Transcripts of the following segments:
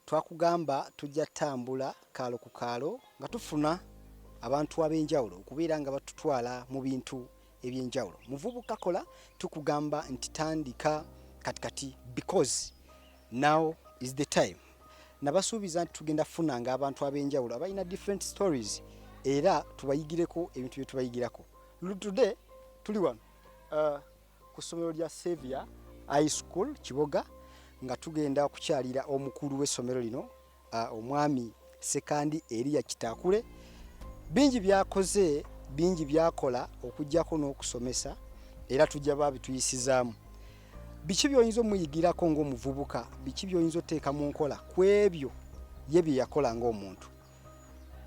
twakugamba tujja tambula kaalo ku kaalo nga tufuna abantu ab'enjawulo okubeera nga batutwala mu bintu ebyenjawulo muvubuka kola tukugamba nti tandika kati kati because now is the time nabasuubiza nti tugenda funa nga abantu ab'enjawulo abalina different stories era tubayigireko ebintu bye tubayigirako today tuli wano uh, ku ssomero lya Savior High School Kiboga nga tugenda okukyalira omukulu w'essomero lino omwami Sekandi Eriya Kitakule bingi byakoze bingi byakola okujjako n'okusomesa era tujja babituyisizaamu biki byoyinza omuyigirako ng'omuvubuka biki byoyinza oteeka mu nkola ku ebyo ye bye yakola ng'omuntu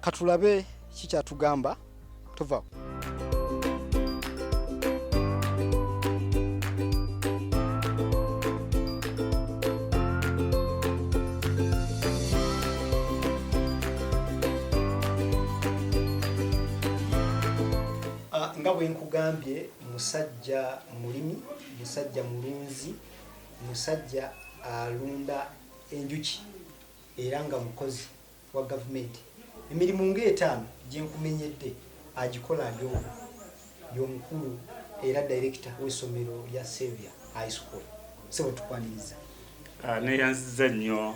katulabe kikyatugamba tuvawo ah, nga bwe nkugambye musajja mulimi musajja mulunzi musajja alunda enjuki era nga mukozi wa gavumenti emirimu ng'etaano gye nkumenyedde agikola ali omu y'omukulu era dayirekita w'essomero lya Saviour High School. Ssebo tukwaniriza. Ah, neyanziza nnyo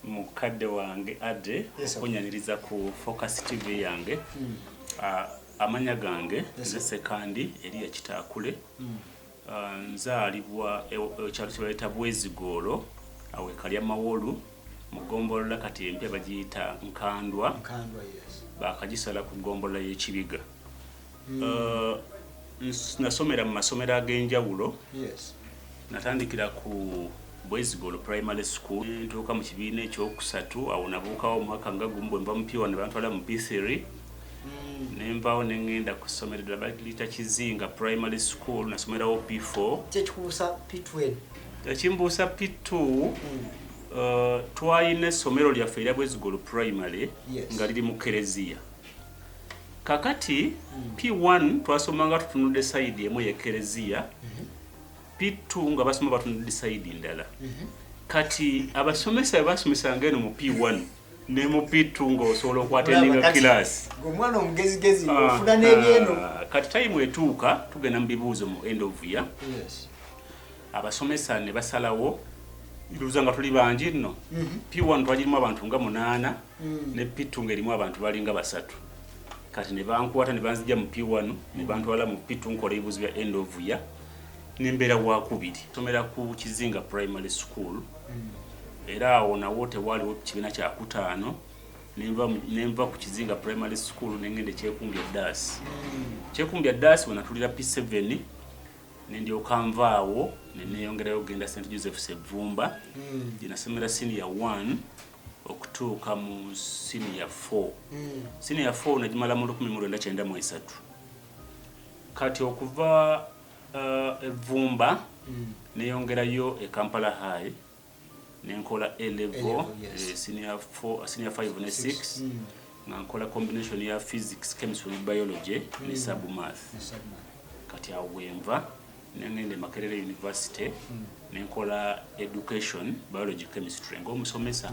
mukadde wange Ade okunyaniriza ku Focus TV yange. Hmm. Ah, amanya gange nze Sekandi Eria Kitaakule. Hmm. Uh, nzaalibwa ekyalo kye baleeta bwezigoolo awo ekalya mawolu mu ggombolola kati empya bagiyita nkandwa bakagisala ku ggombolola y'ekibiga hmm. uh, nasomera mu masomero ag'enjawulo natandikira ku Bwezigolo Primary School ntuuka mu kibiina ekyokusatu awo nabuukawo omwaka nga gumu bwe mba mupiwa ne bantwala mu P3 hmm. ne mbaawo ne ngenda ku ssomero eddala baliyita Kizinga Primary School nasomerawo P4. Kyekikubuusa P2 ekimbuusa P2 Uh, twalina essomero lyaffe erya bwezigolo primary nga liri mu kereziya kakati hmm. p1 twasomanga tutunudde sayidi emu yekereziya mm -hmm. P2 nga basoma batunudde side ndala. Mm -hmm. Kati abasomesa basomesa ngeno mu P1 ne mu P2 nga osobola okwateninga class. Ngomwana omugezi gezi ah, ofuna nebyeno. Ah, kati time etuuka tugenda mu bibuuzo mu end of year. Yes. Abasomesa ne basalawo iluza nga tuli bangi nno. Mm -hmm. P1 twajirimu abantu nga munana mm -hmm. ne P2 ngerimu abantu bali nga basatu. Kati ne bankwata ne banzija mu P1 ne bantwala mu P2 nkola ibuzi ya end of year. nembeera wakubiri somera ku kizinga primary school hmm. era awo nawo tewaaliwo kibiina kyakutaano nenva ku kizinga primary school nengenda ekyekumbya daasi hmm. kyekumbya daasi wenatulira p7 nendyoka nvaawo neneyongerayo okugenda st joseph sevumba hmm. gyenasomera senior 1 okutuuka mu senior 4 senior 4 nagimala mu 1993 Kati okuva uh, evvumba mm. neyongerayo e Kampala High nenkola A level, yes. eh, senior 4, senior 5 ne 6 mm. nga nkola combination ya physics, chemistry ne biology mm. ne sub math. Kati awo wenva nengenda e Makerere University nenkola education biology chemistry ng'omusomesa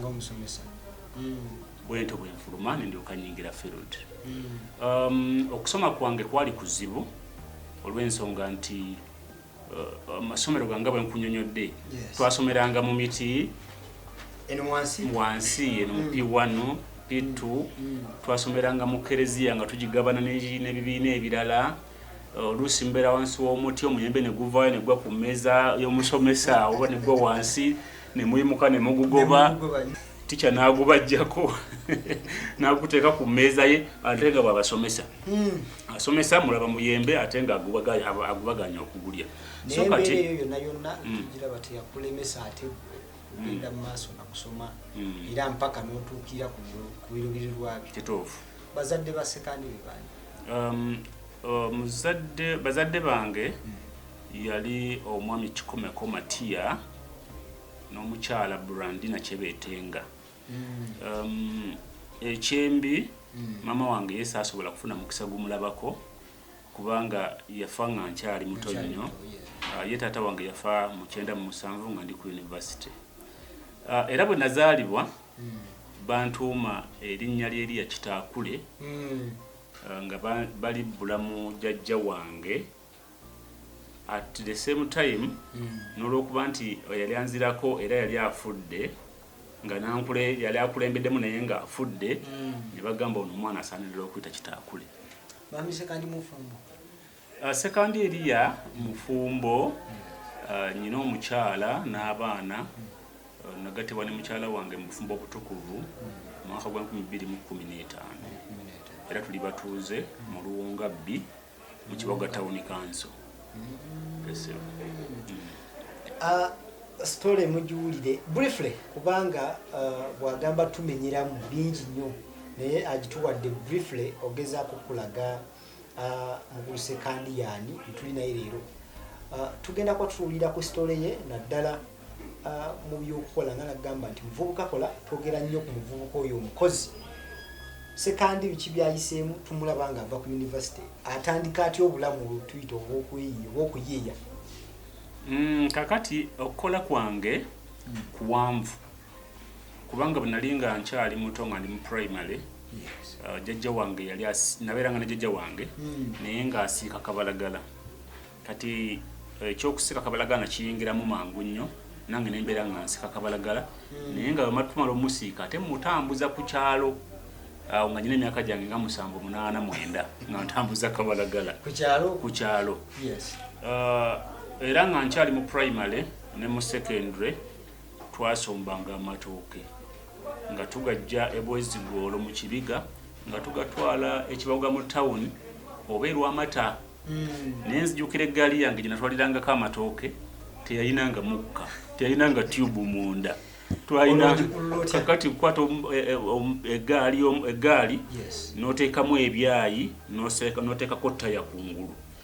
bwentyo bwenfuluma nendyoka nyingira field um, okusoma kwange kwali kuzibu olw'ensonga nti uh, amasomero ganga bwenkunyonyodde twasomeranga mu miti wansi eno mu p1 p2 twasomeranga mu kereziya nga tugigabana n'ebibiina ebirala oluusi mbeera wansi w'omuti omuyembe ne guvaayo ne gwa ku mmeeza y'omusomesa oba ne gwa wansi ne muyimuka ne mugugoba tica n'agubajjako n'aguteeka ku mmeeza ye ate nga bw'abasomesa hmm. asomesa mulaba muyembe ate nga agubaganya okugulya so kati hmm. ogenda mu maaso nakusoma mm. era mpaka notuukira ku birubirirwabyo kituufu bazadde ba sekandi bebani um, uh, muzadde bazadde bange hmm. yali omwami kikomeko matiya n'omukyala brandina kyebetenga hmm. um, ekyembi hmm. mama wange yesi asobola kufuna mukisa gumulabako kubanga yafa nga nkyali muto nnyo uh, ye taata wange yafa mukyenda mu musanvu nga ndi ku university uh, era bwe nazaalibwa bantuuma erinnya ly'Eriya Kitaakule hmm. uh, nga bali bulamu jajja wange at the same time hmm. n'olwokuba nti yali anzirako era yali afudde nga nankule yali akulembeddemu naye nga afudde hmm. ne bagamba ono omwana asaanirira okuyita Kitaakule. Uh, Sekandi Eriya mufumbo uh, nyina omukyala n'abaana uh, nagatibwa ne mukyala wange mu bufumbo obutukuvu mu mwaka gwa 2015 era tuli batuuze mu luwunga bbi mu kiboga tawuni kanso sitole mugiwulire briefly kubanga uh, bwagamba tumenyeramu bingi nnyo naye agituwadde briefly ogezaako kulaga uh, Ah, muguluse kandi yaani etuli naye leero ah, tugenda kuba tutuulira ku sitole ye naddala ah, mu byokukola nga nagamba nti muvubuka kola twogera nnyo ku muvubuka oyo omukozi sekandi biki byayiseemu tumulaba nga ava ku yunivasite atandika atya obulamu olutuyita obwokweyiya obwokuyiiya mm, kakati okukola kwange kuwanvu kubanga bwe nali nga nkyali muto nga ndi mu primary uh, jajja wange yali nabeeranga ne jajja wange hmm. naye ng'asiika kabalagala kati eh, ekyokusiika kabalagala nakiyingiramu mangu nnyo nange nembeera nga nsika kabalagala hmm. naye nga wematumala omusiika ate mutambuza ku kyalo awo nga nyina emyaka gyange nga musanvu munaana mwenda nga ntambuza kabalagala ku kyalo uh, era nga nkyali mu primary ne mu secondary twasombanga amatooke nga tugajja ebwezigoolo mu kibiga nga tugatwala ekibaga mu tawuni oba erwamata hmm. naye nzijukira eggaali yange gyenatwalirangako amatooke teyalinanga mukka teyalinanga tube munda twalinaakati kukwata eggaali eh, eh, um, noteekamu ebyayi noteekako taya kungulu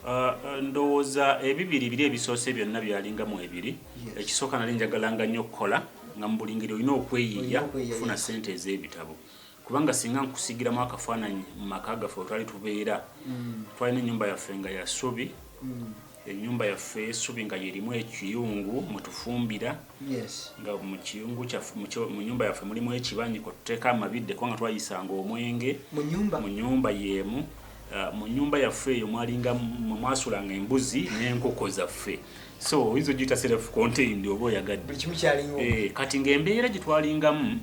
Uh, ndowooza ebibiri biri ebisoose byonna byalinga mu ebiri ekisooka nali njagalanga nnyo okukola nga mu buli ngeri olina okweyiiya okufuna ssente ez'ebitabo kubanga singa nkusigiramu akafaananyi mu maka gaffe wetwali tubeera mm. twalina ennyumba yaffe nga ya ssubi mm. ennyumba yaffe esubi nga yerimu ekiyungu mwetufumbira nga mukiyungu kyaffe mu nyumba yaffe mulimu ekibanyi kwetuteeka amabidde kubanga twayisanga omwenge mu nyumba yemu Uh, mu nyumba yaffe eyo mwalinga mwasulanga embuzi n'enkoko zaffe so oyinza ogiyita self contained oba oyagadde eh, kati ng'embeera gye twalingamu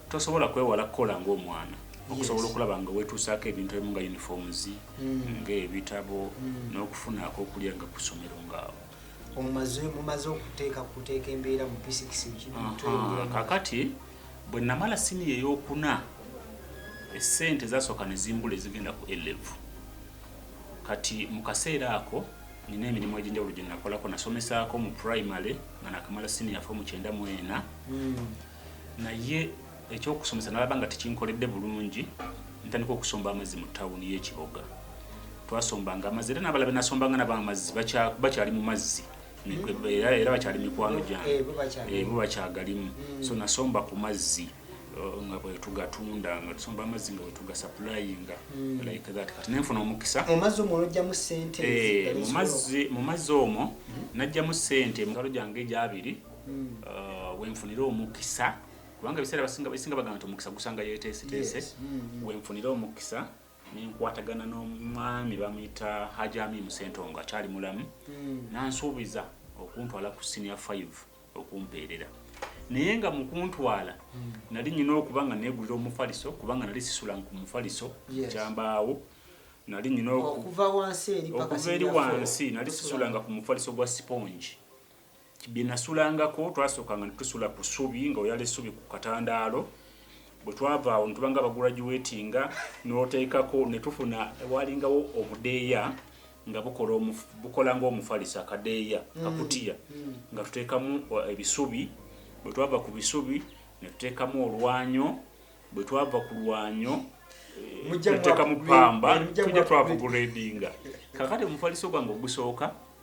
tosobola kwewala kukola ng'omwana okusobola okulaba nga wetuusaako ebintu ebimu nga uniforms mm. ng'ebitabo mm. n'okufuna akokulya nga ku ssomero ngaawo mumaze okuteeka kuteeka embeera mu physics kakati Bwe nnamala siniya ey'okuna, essente zaasooka ne zimbula ezigenda ku A-Level. Kati mu kaseera ako nina emirimu egy'enjawulo gye nakolako. Nasomesaako mu primary nga nakamala siniya fo mu kyenda mu ena hmm. naye ekyokusomesa nalaba nga tekinkoledde bulungi ntandika okusomba amazzi mu tawuni y'ekiboga twasombanga amazzi era nabala benasombanga nabo amazzi bakyali mu mazzi era bakyali mikwano gyange eh, bo bakyagalimu mm. so nasomba ku mazzi uh, nga bwetugatunda nga tusomba amazzi nga bwetugasapulainga mm. like that kati nenfuna omukisa mu mazzi omwo nojjamu sente eh, mu mazzi omwo mm-hmm. najjamu sente mugalo gyange egyabiri uh, wenfunire omukisa kubanga ebiseera basinga bagamba nti omukisa gusanga yeteeseteese wenfunire omukisa nenkwatagana n'omwami bamuyita hajami musentongo akyali mulamu hmm. nansuubiza okuntwala ku senior 5 okumpeerera naye nga mukuntwala hmm. nali nyina okuba nga negulira omufaliso kubanga nali sisula ku mufaliso kyambaawo nali nyina okuva eri wansi nali sisulanga ku mufaliso gwa sipongi bye nasulangako twasookanga ne tusula ku ssubi nga oyala essubi ku katandaalo bwe twava awo ne tuba nga baguraduwetinga n'oteekako ne tufuna waalingawo obudeeya nga bukola ng'omufalisa akadeeya mm. kakutiya mm. nga tuteekamu uh, ebisubi bwe twava ku bisubi ne tuteekamu olwanyo bwe twava ku lwanyo eh, tuteekamu pamba tujja twava guredinga kakati omufaliso gwange ogusooka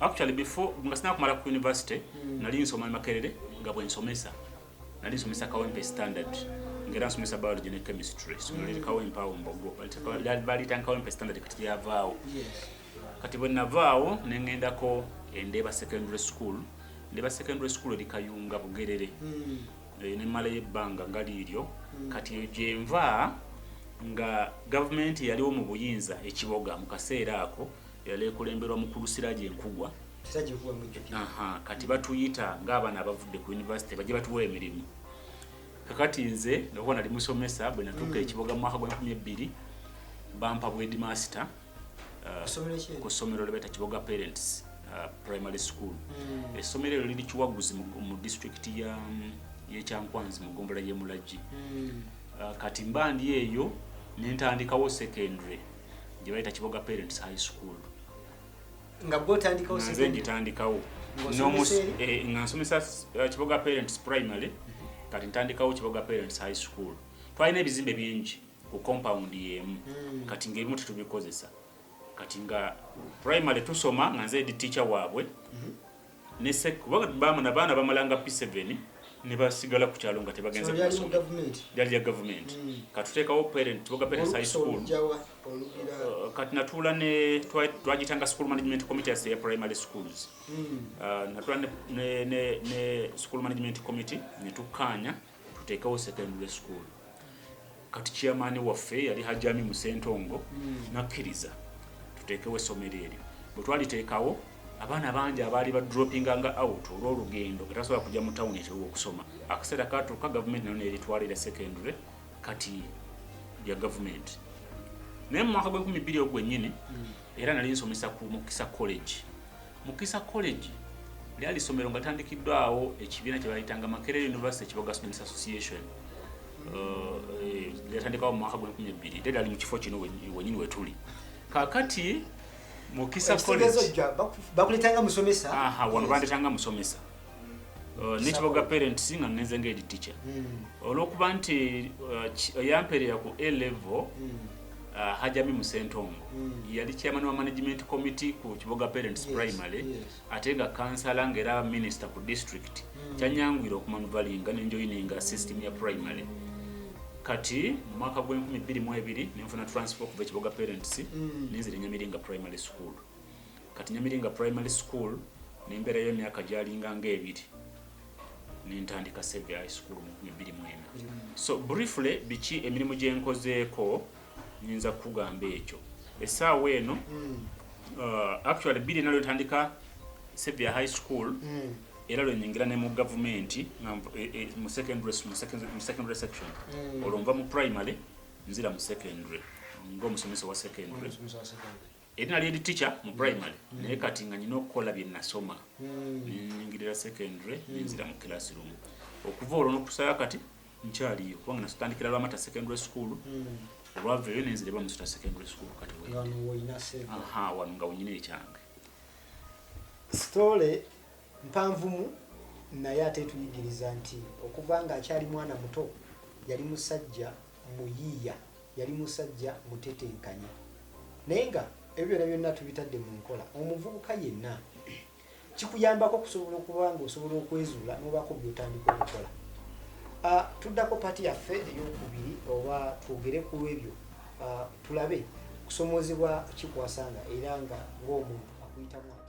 actually before nga sina kumala ku university mm. nali nsoma makerere nga bwe nsomesa nali nsomesa kawempe standard ngera nsomesa biology ne chemistry so nali mm. kawempe awo mbogo bali tan kawempe standard kati yavaawo yes. kati bwe navaawo ne ngendako endeeba secondary school ndeeba secondary school eri kayunga bugerere mm. Eh, ne malayo ebbanga nga liiryo mm. kati eyo gyenva nga gavumenti yaliwo mu buyinza ekiboga mu kaseera ako yali ekulemberwa mukulu Siraje Nkugwa Aha, kati batuyita ng'abaana abavudde ku yunivasite bajja batuwa emirimu kakati nze ngakuba nali musomesa bwe natuuka mm. ekiboga mu mwaka gwa nkumi ebbiri bampa bwedi masita uh, ku ssomero lye bayita kiboga parents uh, primary school mm. essomero eryo liri kiwaguzi mu disitulikiti yekyankwanzi mu gombola y'emulagi mm. uh, kati mba ndi eyo nentandikawo secondary gye bayita kiboga parents high school nga gwe otandikawo nze ngitandikawo eh, nga nsomesa eh, kiboga parents primary kati ntandikawo kiboga parents high school twalina ebizimbe bingi ku compound yemu hmm. kati ngaebimu tetubikozesa kati nga primary tusoma nga nze edi teacher waabwe mhm. ne sekko bamu na baana bamalanga p7 ne basigala ku kyalo nga tebagenze ku masomo lyali lya gavumenti hmm. katuteekawo parent tubaga parents high school uh, kati natuula ne twagitanga school management committee as ya primary schools hmm. uh, natuula ne school management committee ne tukkaanya tuteekewo secondary school kati chairman waffe yali hajami musentongo hmm. nakkiriza tuteekewo essomero eryo bwe twaliteekawo abaana bangi abaali ba dropping nga out olw'olugendo nga tasobola kujja mu tawuni ekiruga okusoma akaseera katuuka gavumenti nayo neritwalira secondary kati ya gavumenti naye mu mwaka gw'enkumi bbiri ogwo gwennyini hmm. Era nali nsomesa ku Mukisa College. Mukisa College lyali ssomero nga tandikiddwawo ekibiina kye baayitanga Makerere University Kiboga Students Association lyatandikawo mu mwaka gw'enkumi ebbiri era lyali mu kifo kino wenyini wetuli kakati Mukisa College bakuletanga musomesa wano bandetanga musomesa Uh, nekiboga parents nga ngenze nga edi teacher hmm. olwokuba nti uh, oyamperera ku a level hmm. uh, hajami musentongo hmm. yali chairman wa management committee ku kiboga parents primary ate nga kansala nga era minister ku district kyanyangwira okumanuvalinga nenjoyininga system ya primary kati mu mwaka gw'enkumi bbiri mu ebiri nenfuna transfer okuva ekiboga parents nenzira nyamiringa primary school Kati Nyamiringa Primary School nembeerayo emyaka gyalinga ng'ebiri nentandika Save High School mu nkumi bbiri mwena. So briefly biki emirimu gye nkozeeko nyinza kukugamba ekyo essaawa eno hmm. uh, actually bbiri ena lwentandika Save High School hmm. era lwenyingira ne mu gavumenti e, e, mu secondary section hmm. olwo nva mu primary nzira mu secondary ngaomusomesa wa secondary eri nali eri teacher mu mm. primary mm. naye kati nga nyina okukola bye nasoma mm. ningirira secondary nenzira mu classroom okuva olwo nokusaya kati nkyaliyo kubanga nasitandikira lwamata secondary school olwaveyo nenzira eba musuta secondary school kati aha wano nga wenyina ekyange story mpanvumu naye ate tuyigiriza nti okuva nga akyali mwana muto yali musajja muyiiya yali musajja mutetenkanya naye nga ebyo byona byonna tubitadde mu nkola omuvubuka yenna kikuyambako okusobola okuba nga osobola okwezuula nobaako byotandika okukola ah, tuddako pati yaffe eyokubiri oba twogere ku ebyo ah, tulabe kusomoozebwa kikwasanga era nga ngaomuntu akuyitamu ati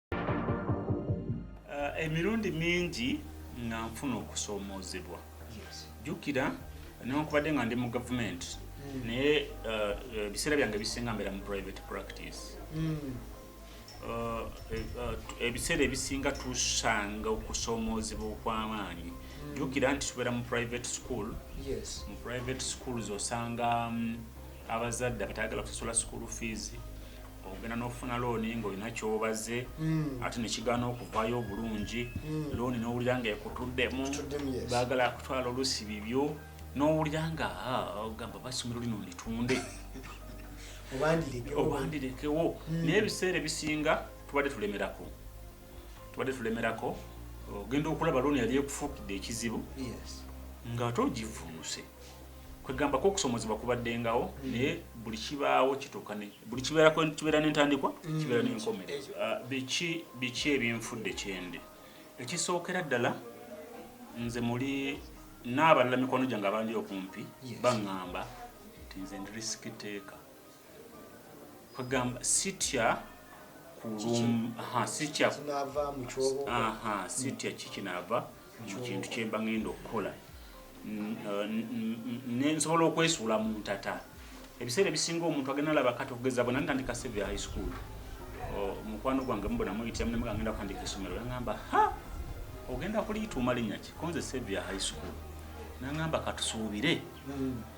Uh, emirundi mingi nga nfuna okusoomoozebwa jjukira newankubadde nga ndi mu gavumenti hmm. naye uh, uh, ebiseera byange bisinga mbeera mu private practice hmm. uh, ebiseera ebisinga tusanga okusoomoozebwa okw'amaanyi hmm. jjukira nti tubeera mu private school mu private schools osanga um, abazadde abatayagala kusasula school fees ogenda n'ofuna looni ng'olina kyobaze hmm. ate nekigaana okuvayo obulungi hmm. looni n'owulira nga ekutuddemu baagala kutwala olusi bibyo n'owulira nga ah, ogamba basomero lino litunde obandirekewo hmm. naye ebiseera ebisinga tubadde tulemerako tubadde tulemerako ogenda okulaba looni yali ekufukidde ekizibu nga ate ogivunuse kwegamba ko okusomozebwa kubaddengawo mm. naye buli kibaawo kituuka ne buli kibeera kibeera n'entandikwa mm. kibeera n'enkomerero ah, biki biki ebinfudde kyendi ekisookera ddala nze muli n'abalala mikwano gyange abandi okumpi baŋŋamba nti nze ndi risiki teeka kwegamba sitya sitya kikinaava mu kintu kyemba ngenda okukola nensobola okwesuula mu ntata ebiseera ebisinga omuntu agenda laba kati okugeza bona ntandika seve high school omukwano gwange mubona muyitira munemu gangenda kutandika esomero yangamba ha ogenda kuliyita omalinnya ki konze sevia high school nangamba katusuubire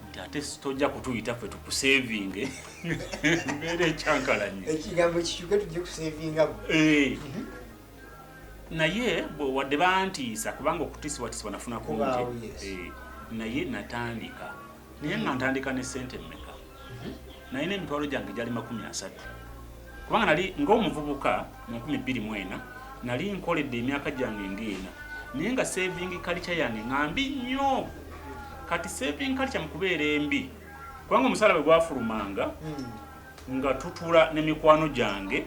nti ate tojja kutuyita ffe tukusevinge mbeera ekyankalanye ekigambo kikyuke tujje kusevinga eh. mhm. naye wadde bantiisa kubanga okutiisibwatisibwa nafuna kungi eh, naye natandika naye nga ntandika ne sente mmeka nalina emitwalo gyange gyali makumi asatu kubanga nali ng'omuvubuka mu nkumi bbiri mu ena nali nkoledde emyaka gyange ng'ena naye nga saving kalica yange nga mbi nnyo kati saving kalica mu kubeera embi kubanga omusaala bwe gwafulumanga hmm. nga tutula ne mikwano gyange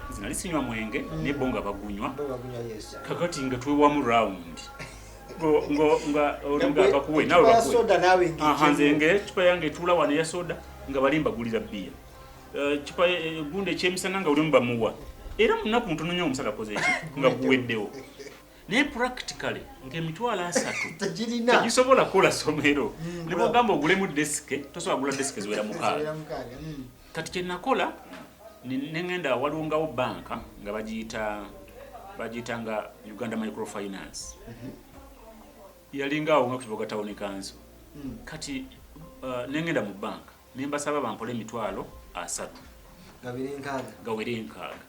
nze nali sinywa mwenge hmm. nebbo nga bagunywa kakati nga twewamu rawundi nze ngecupa yange etula wano eya soda nga bali mbagulira biya eh, cupa eh, gundi ekyemisana nga ulimu bamuwa era munaku ntono nyo omusala koze eki nga guweddewo naye practically ngemitwalo asatu tegisobola kukola somero hmm, nebwogamba ogulemu desike tosobola gula desike ziwera mukaaga hmm. kati kyenakola nengenda walungawo banka nga bagiyita bagiyita nga uganda microfinance mhm. yalingaawo nga kukiboga tawuni kanso hmm. kati uh, nengenda mu banka nembasaba bampole emitwalo asatu gawere enkaaga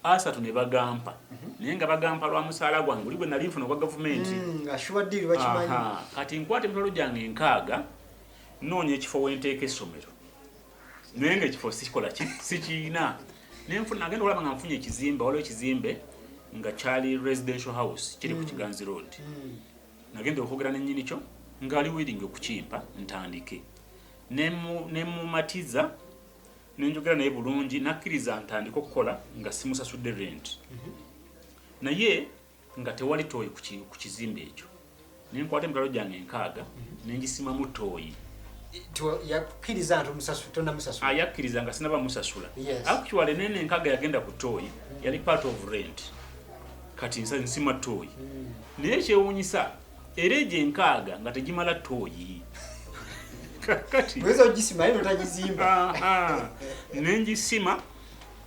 asatu ne bagampa mhm. naye nga bagampa lwa musaala gwange oli gwe nali nfuna ogwa gavumenti hmm, kati nkwata emitwalo gyange enkaaga noonya ekifo wenteeka essomero naye nga ekifo sikikola sikirina naye nfuna agenda olaba nga nfunye ekizimbe waliwo ekizimbe nga kyali residential house kiri ku mm. kiganzi road mm. nagenda okwogera nenyini kyo ngaali willing okukimpa ntandike nemumatiza nenjogera naye bulungi nakkiriza ntandike okukola nga simusasudde rent mm-hmm. naye nga tewali tooyi ku kizimbe ekyo ne nkwata emitwalo gyange enkaaga ne ngisimamu tooyi yakkiriza nti omusasula tonamusasula ah, yakkiriza nga sinaba musasula actually nene enkaga yagenda ku tooyi yali part of rent kati nsa nsima tooyi hmm. naye ekyewuunyisa era egyo enkaaga nga tegimala tooyi kati nengisima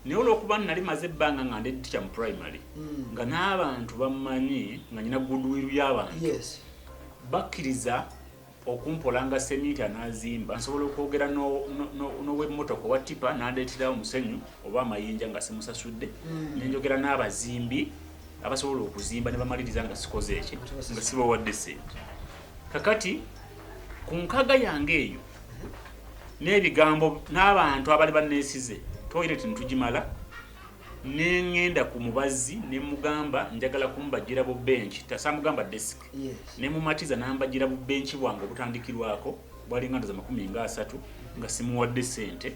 naye olwokuba nali maze ebbanga nga ndi ticha mu primary mm. nga n'abantu bammanyi nga nyina goodwill y'abantu yes. bakkiriza okumpola nga seminti anazimba nsobola okwogera n'owemmotoka owa tipa nandeeterawo omusenyu oba amayinja nga simusasudde mm. nenjogera n'abazimbi abasobola okuzimba ne bamaliriza nga sikoze eki nga sibawadde sente kakati ku nkaga yange eyo n'ebigambo n'abantu abali banneesize toyireti ntugimala ne ŋŋenda ku mubazzi ne mugamba njagala kumubajjira bu benki tasamugamba desiki ne mumatiza n'ambajjira bu benki bwange obutandikirwako bwali nga ndoza makumi nga asatu nga simuwadde ssente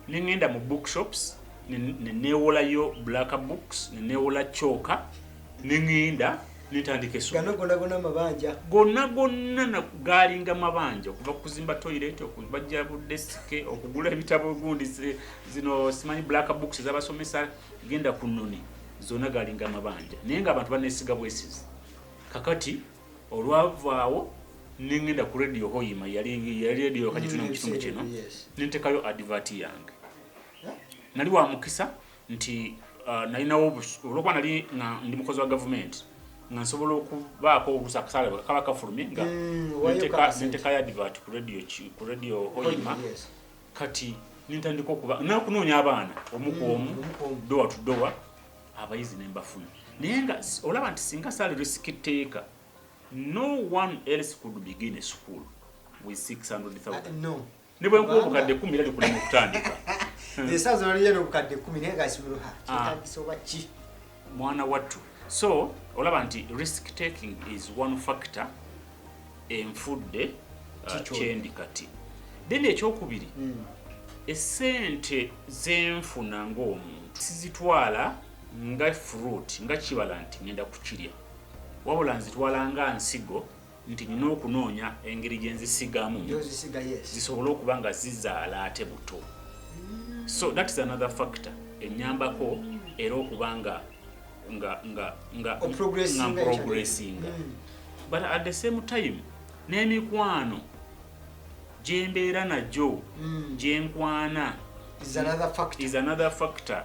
ne ŋŋenda mu bookshops ne neewolayo black books ne neewola kyoka nengenda netandika esomero gonna gonna mabanja gonna gonna galinga mabanja okuva kuzimba toilet okubajja bu desk okugula ebitabo gundi zino simanyi black books zabasomesa genda ku noni zona galinga mabanja naye nga abantu banesiga bwesizi kakati olwavaawo nengenda ku radio hoima yali yali radio kajituna mu kitundu kino nentekayo advert yange nali wa mukisa nti uh, nalinawo olwokuba nali nga ndi mukozi wa gavumenti nga nsobola okubaako olusa akasaala bwe kaba kafulume nga nenteka mm, yadivat ku radio ku radio oyima kati nintandika okuba nakunoonya abaana omu ku omu mm, dowa tu dowa abayizi nembafuna naye nga olaba nti singa saali risiki teeka no one else could begin a school with 600000 uh, no. Ne bwe nkuwa obukadde kkumi era likulema okutandika. Esaaza waliyo n'obukadde kkumi naye nga simuluha ah. kyetagisa oba ki? Mwana wattu. So olaba nti risk taking is one factor enfudde uh, kyendi kati. Then ekyokubiri hmm. esente zenfuna ng'omuntu sizitwala nga fruit nga kibala nti ngenda kukirya wabula nzitwala nga nsigo nti nina okunoonya engeri gyenzisigamu zisobole okuba nga zizaala ate buto so that is another factor enyambako era okuba nga nga nga nga progressinga hmm. but at the same time n'emikwano gyembeera nagyo hmm. gyenkwana is another factor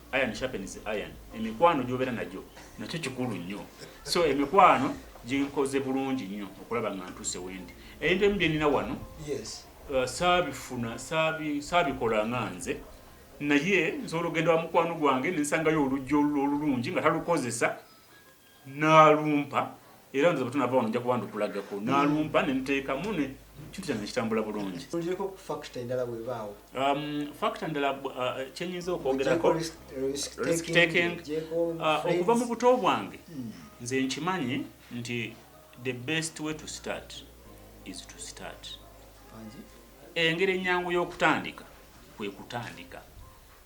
iron sharpens iron emikwano gyobera nagyo nakyo kikulu nnyo so emikwano ginkoze bulungi nnyo okulaba nga ntuuse wendi ebintu ebimu byenina wano uh, saabifuna saabikola nga nze naye nsobola okugenda wa mukwano gwange nensangayo oluggi olulungi nga talukozesa nalumpa era nze bwetunava wano nja kuba ndukulagako nalumpa nenteekamu ne kintu kyange kitambula bulungi um, fakita ndala uh, kyenyinza okwogerako uh, okuva mu buto bwange hmm. nze nkimanyi nti the best way to start is to start engeri ennyangu y'okutandika kwe kutandika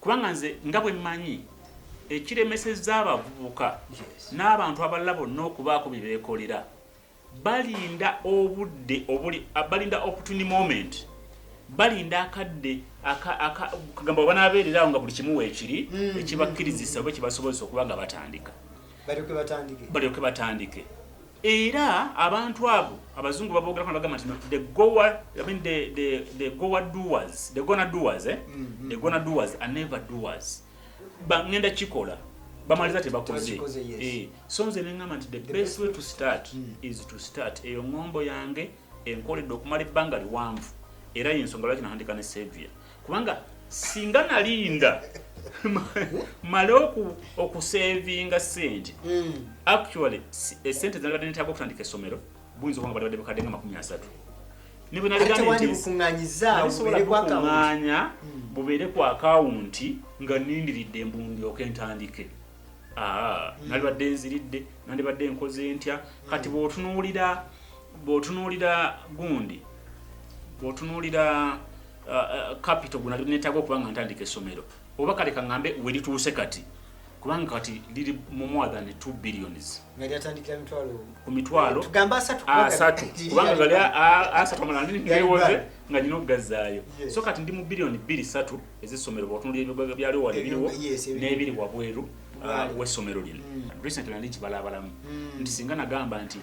kubanga nze nga bwe mmanyi ekiremesezza abavubuka n'abantu abalala bonna okubaako bye beekolera balinda obudde obuli balinda opportunity moment balinda akadde kagamba oba nabeerera awo nga buli kimu weekiri mm. ekibakkirizisa oba ekibasobozesa okuba nga batandika balyoke batandike Era abantu abo abazungu babogerako nabagamba nti the goa I mean the the the goa doers the gonna doers eh mm -hmm. the gonna doers are never doers bangenda kikola bamaliza tebakoze yes. eh so nze nengamba nti the, the best way to start mm. is to start eyo ngombo yange enkoledde okumala ebbanga liwanvu era yensonga lwaki nahandika ne savior kubanga singa nalinda male okusevinga sente hmm. actually esente zanabadde netaga okutandika esomero buyinza okuba nga balibadde bukadde nga makumi asatu nibwenaligaanbukunganya hmm. bubeere ku akawunti nga nindiridde embundyoka entandike ah, hmm. nalibadde nziridde nandibadde enkoze ntya kati bwotunuulira bwotunuulira gundi bwotunuulira uh, uh, capital gwe netaaga okuba nga ntandika essomero oba kale kaŋambe we lituuse kati kubanga kati liri mu more than 2 billions ku mitwalo asatu kubanga gali asatu amalaniwoze nga nina okugazzaayo so kati ndi mu biliyoni bbiri satu ezessomero bwotunulira ebigoga byaliwo wali biriwo n'ebiri wabweru uh, w'essomero lino mm. recently ndi kibalaabalamu mm. nti singa nagamba nti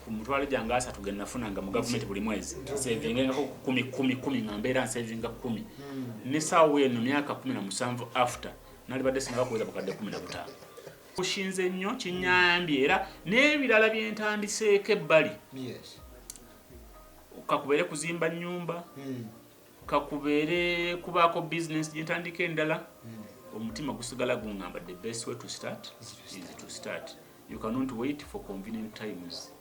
ku mutwalo gyange asatu ge nafunanga mu gavumenti buli mwezi nsevingengako kumi kumi kumi nga mbeera nsevinga kumi hmm. ne saawa eno myaka kumi na musanvu after nalibadde sinabakuweza bukadde kumi na butaano kushinze nnyo kinyambye era n'ebirala bye ntandiseeko ebbali kakubeere kuzimba nnyumba hmm. kakubeere kubaako bizinensi gye ntandika endala hmm. omutima gusigala gungamba the best way to start is to start you cannot wait for convenient times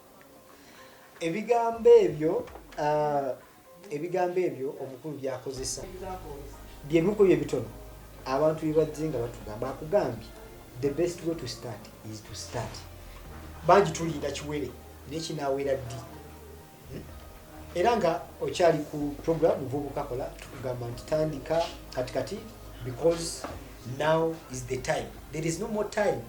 ebigambo ebyo uh, ebigambo ebyo omukulu byakozesa byebiku bye bitono abantu bebajje nga batugamba akugambye the best way to start is to start bangi tulinda kiwere naye kinawera ddi era nga okyali ku program vubuka kola tukugamba nti tandika kati kati because now is the time there is no more time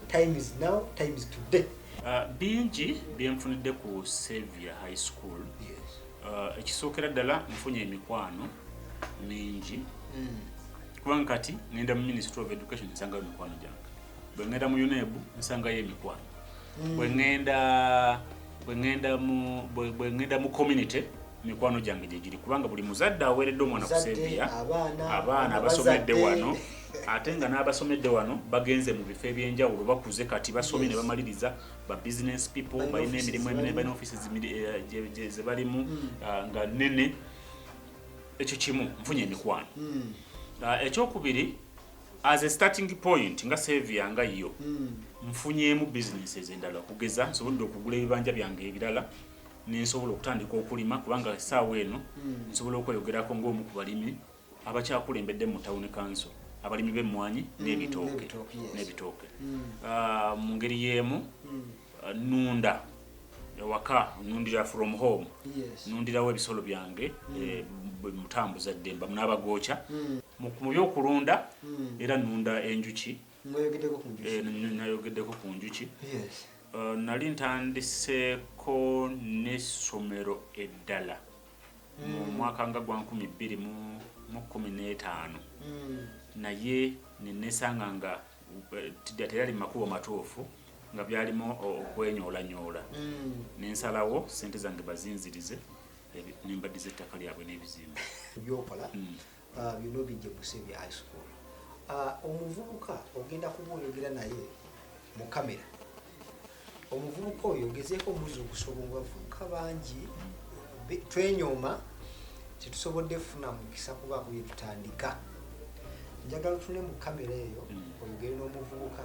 time is now time is today uh, bingi byenfunidde ku savior high school yes. uh, ekisookera ddala nfunye emikwano mingi mm. kubanga kati ngenda mu ministry of education nsangayo emikwano gyange bwengenda mu unebu nsangayo emikwano mm. bwe ŋŋenda bwe ŋŋenda mu bwe ŋŋenda mu community mikwano gyange gye giri kubanga buli muzadde aweeredde omwana ku sebiya abaana abasomedde wano ate nga n'abasomedde wano bagenze mu bifo eby'enjawulo bakuze kati basomye ne bamaliriza ba business people balina emirimu eminene balina office eh, ze balimu hmm. ah, nga nene ekyo kimu nfunye emikwano hmm. ah, ekyokubiri as a starting point nga savia nga yo mm. nfunyemu businesses endala okugeza nsobodde okugula ebibanja byange ebirala nensobola okutandika okulima kubanga esaawa eno mm. nsobola okweyogerako ngaomu ku balimi abakyakulembedde mu town council abalimi b'emmwanyi mm, n'ebitooke n'ebitooke mm. ah, mu ngeri y'emu mm. nunda ewaka nundira from home nundirawo ebisolo byange mm. eh, mutambuza ddemba munabagooca mm. mu byokulunda mm. era nunda enjuki eh, nayogeddeko ku njuki eh, nali ntandiseeko n'essomero eddala mu mwaka nga gwa nkumi bbiri mu kumi n'etaano naye nenesanga nga tera ali makubo matuufu nga byalimu okwenyoolanyoola hmm. nensalawo sente zange bazinzirize nembadiza ettaka lyabwe n'ebizimba byokola hmm. uh, byona obijja kusebi high school uh, omuvubuka ogenda kuba oyogera naye mu kamera omuvubuka oyo ogezeeko omuzuukusa obungavubuka bangi twenyooma tetusobodde kufuna mukisa kubaako byetutandika njagala tune mu kamera eyo hmm. oyogere n'omuvubuka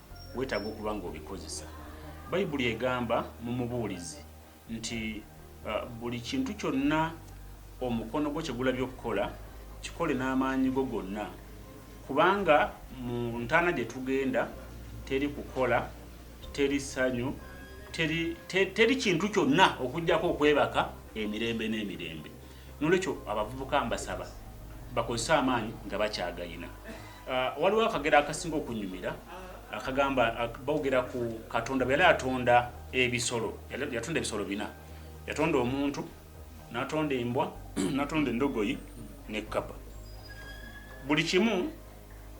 weetaaga okuba ng'obikozesa. Bayibuli egamba mu mubuulizi nti uh, buli kintu kyonna omukono gwo kye gulabye okukola kikole n'amaanyi go gonna, kubanga mu ntaana gye tugenda teri kukola, teri ssanyu, teri, teri kintu kyonna okugyako okwebaka emirembe n'emirembe. Nolwekyo abavubuka mbasaba bakozese amaanyi nga bakyagayina. Uh, waliwo akagera akasinga okunyumira akagamba bogera ku Katonda bwe yali atonda ebisolo, yatonda ebisolo bina, yatonda omuntu, natonda embwa, natonda endogoyi ne kkapa. Buli kimu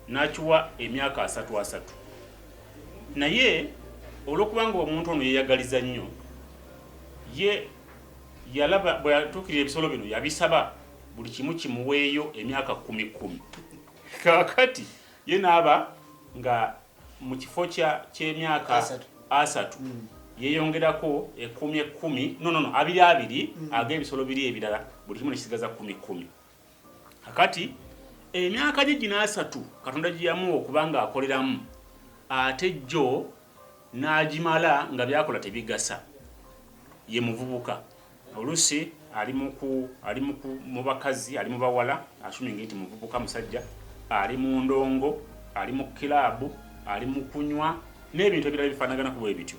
nakiwa emyaka asatu asatu, naye olwokubanga omuntu ono yeyagaliza nnyo ye yalaba bwe yatuukirira ebisolo bino yabisaba buli kimu kimuweeyo emyaka kkumi kkumi kaakati ye naaba nga mu kifo ky'emyaka asatu hmm. yeeyongerako ekkumi ekkumi nonono abiri abiri hmm. ag'ebisolo biri ebirala buli kimu nekisigaza kkumi kkumi kakati emyaka gye gino asatu katonda gye yamuwa okuba ng'akoleramu ate jjo n'agimala nga byakola tebigasa ye muvubuka oluusi ali mu bakazi ali mu bawala asumingi nti muvubuka musajja ali mu ndongo ali mu kiraabu ali mu kunywa n'ebintu ebirala bifaanaganaku bwe bityo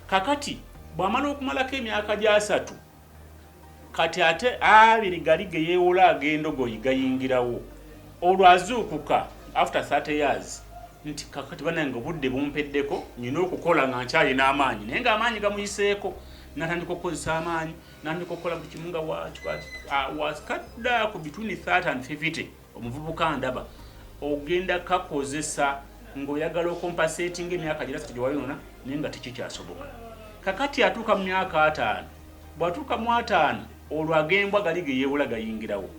kakati bw'amala okumalako emyaka gy'asatu kati ate abiri gali geyewola agendogoyi gayingirawo olwo azuukuka after 30 years nti kakati banange obudde bumpeddeko nyina okukola nga nkyalina amaanyi naye nga amaanyi gamuyiseeko natandika okukozesa amaanyi natandika okukola buli kimu nga wakikati ah, wakikadda ku bitwini 30 and 50 omuvubuka ndaba ogenda kakozesa ng'oyagala okompaseetinga emyaka girasatu gye wayonona naye nga tekikyasoboka kakati atuuka mu myaka ataano bw'atuuka mu ataano olwo agembwa gali ge yeewola gayingirawo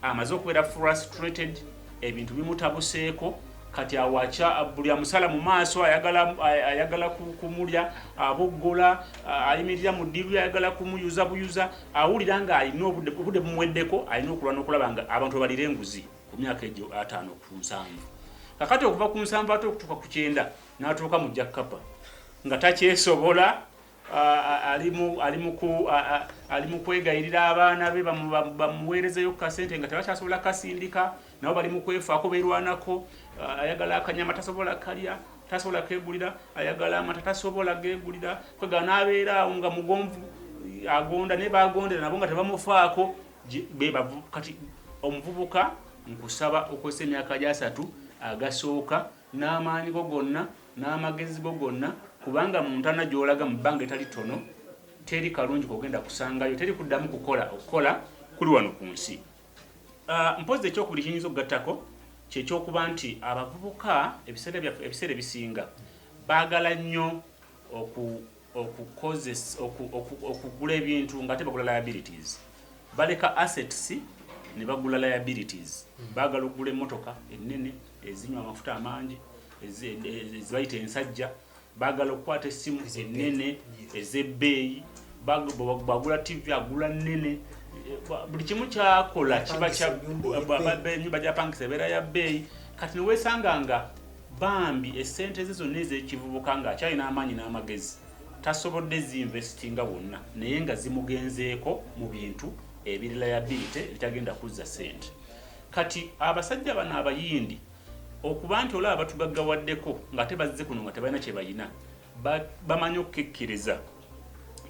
amaze okubeera frustrated ebintu bimutabuseeko kati awaca buli amusala mu maaso ayagala ayagala kumulya aboggola ayimirira mu ddiru ayagala kumuyuza buyuza awulira nga alina obudde obudde bumuweddeko alina okulwana okulaba nga abantu abalira enguzi ku myaka egyo ataano ku nsanvu kakati okuva ku nsanvu ate okutuuka ku kyenda n'atuuka mu jakkapa nga takyesobola ali mu kwegayirira abaana be bamuweerezeyo ku kasente nga tebakyasobola kasindika nabo bali mukwefaako berwanako uh, ayagala akanyama tasobola kalya tasobola kegulira ayagala amata tasobola gegulira kwega nabeera awo nga mugonvu agonda naye bagondera nabo nga tebamufaako kati omuvubuka nkusaba okozesa emyaka gyasatu agasooka n'amaanyi go gonna n'amagezi go gonna kubanga mu ntana gyolaga mu bbanga etali tono teri kalungi kogenda kusangayo teri kuddamu kukola okukola kuli wano ku nsi Uh, mpozi ekyokubiri kiyinza okugattako kyekyokuba nti abavubuka ebiseera byaffe ebiseera ebisinga baagala nnyo okugula ebintu nga ate bagula liabilities baleka assets ne bagula liabilities hmm. baagala okugula emmotoka ennene ezinywa amafuta amangi ezibayita ensajja e, e, bagala okukwata essimu ennene ez'ebbeeyi bagula tv agula nnene buli kimu kyakola kiba enyumba gyapangisa ebeera ya bbeeyi kati newesanga nga bambi esente ze zonna ez'ekivubuka ng'akyalina amaanyi n'amagezi tasobodde zinvestinga wonna naye nga zimugenzeeko mu bintu ebirila ya biite ebitagenda kuzza sente kati abasajja bano abayindi okuba nti olaba batugaggawaddeko ng'ate bazze kuno nga tebalina kye balina bamanyi okukekkereza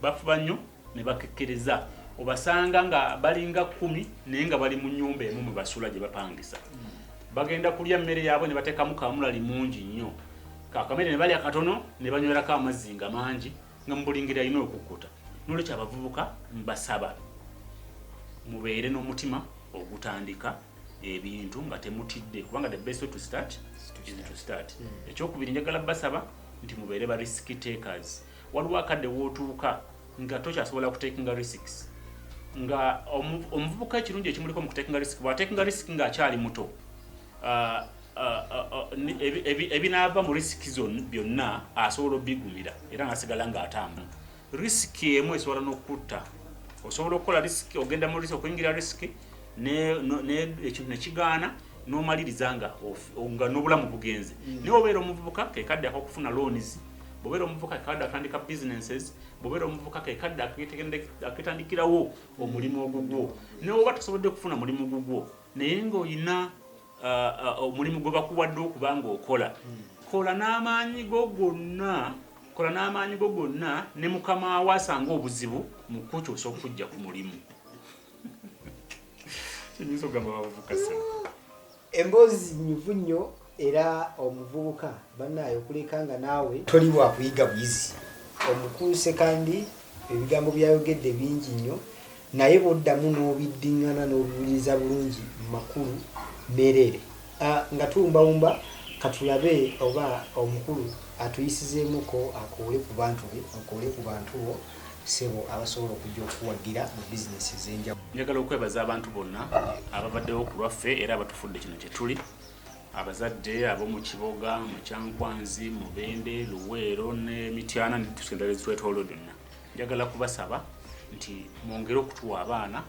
bafuba nnyo ne bakekkereza obasanga nga balinga kkumi naye nga bali mu nnyumba emu mwe basula gye bapangisa bagenda kulya mmere yaabwe ne bateekamu kaamulali mungi nnyo kakamere ne balya katono ne banywerako amazzi nga mangi nga mu buli ngeri alina okukkuta n'olwekyo abavubuka mbasaba mubeere n'omutima ogutandika ebintu nga temutidde kubanga the best way to start is to start hmm. ekyokubiri njagala basaba nti mubeere ba risk takers waliwo akadde wootuuka nga tokyasobola kutakinga risks nga omuvubuka ekirungi ekimuliko mu kutakinga risk bwatakinga risk ng'akyali muto uh, ebinaava mu risiki zon byonna asobola obigumira era nasigala ng'atamba risiki emu esobola n'okutta osobola okukola risiki ogenda mu risiki okuyingira risiki ekintu nekigaana nomaliriza nga nga n'obulamu bugenze mm. naye obeera omuvubuka kekadde akokufuna loans bobeera omuvubuka kekadde atandika businesses bobeera omuvubuka kekadde aketandikirawo omulimu ogugwo naye oba tosobodde kufuna mulimu gugwo naye ngaolina omulimu gwe bakuwadde okuba ng'okola hmm. kola n'amaanyi go gonna kola n'amaanyi go gonna ne mukama wo asanga obuzibu mu kukyusa okujja ku mulimu kiyinza okugamba bavubuka sena emboozi nyuvu nnyo era omuvubuka bannaayo okuleka nga naawe toli wakuyiga buyizi omukuuse kandi Ebigambo by'ayogedde bingi nnyo naye bw'oddamu n'obiddingana n'obiwuliriza bulungi makulu mereere. Nga tuwumbawumba ka tulabe oba omukulu atuyisizeemuko akoole ku bantu be, okoole ku bantu bo ssebo abasobola okujja okukuwagira mu bizinensi ez'enjawulo. Njagala okwebaza abantu bonna ababaddewo ku lwaffe era abatufudde kino kye tuli. abazadde ab'omu kiboga mu kyankwanzi mubende luweero ne mityana netusendala ezitwetoolo byonna njagala kubasaba nti mwongere okutuwa abaana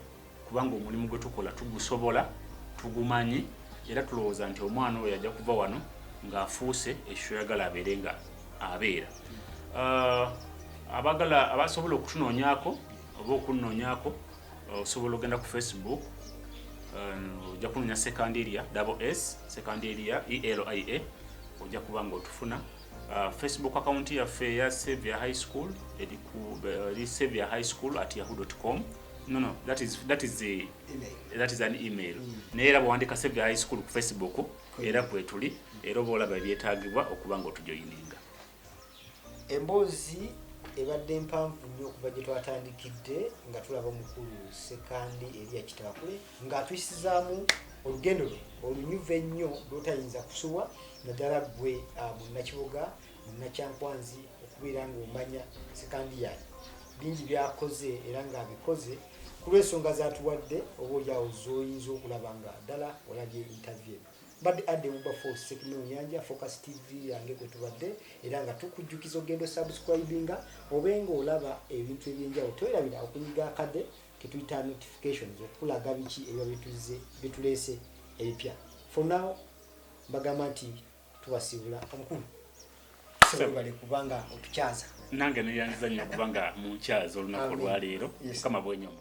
kubanga omulimu gwe tukola tugusobola tugumanyi era tulowooza nti omwana oyo ajja kuva wano ng'afuuse ekyo yagala abeere nga abeera ah, abagala abasobola okutunoonyako oba okunnoonyako osobola ogenda ku facebook um, ojja kunonya sekandiria double s sekandiria elia ojja kuba nga otufuna uh, facebook account yaffe eya savior high school eri ku uh, savior high school at yahoo com no no that is that is a email. that is an email mm. naye era bwewandika savior high school ku facebook era kwetuli era oba olaba ebyetagibwa okuba nga otujoyininga Emboozi ebadde mpanvu nnyo okuva gye twatandikidde nga tulaba omukulu Ssekandi Eria Kitakwe ng'atuyisizaamu olugendo lwe olunyuvu ennyo lw'otayinza kusubwa naddala ggwe ah, munnakibuga munnakyankwanzi okubeera ng'omanya Ssekandi yaani bingi byakoze era ng'abikoze ku lw'ensonga z'atuwadde oba olyawo z'oyinza okulaba nga ddala olabye intavye mbadde adde muba fo sekino nyanja focus tv yange kwe tubadde era nga tukujjukiza ogenda osubscribinga obe nga olaba ebintu ebyenjawulo twerabira okunyiga akade ketuyita notifications okulaga biki ebiba bituzze bituleese ebipya for now mbagamba nti tubasiibula omukulu sebale kubanga otukyaza nange neyanziza nnyo kubanga munkyaza olunaku olwaleero mukama bwenyomu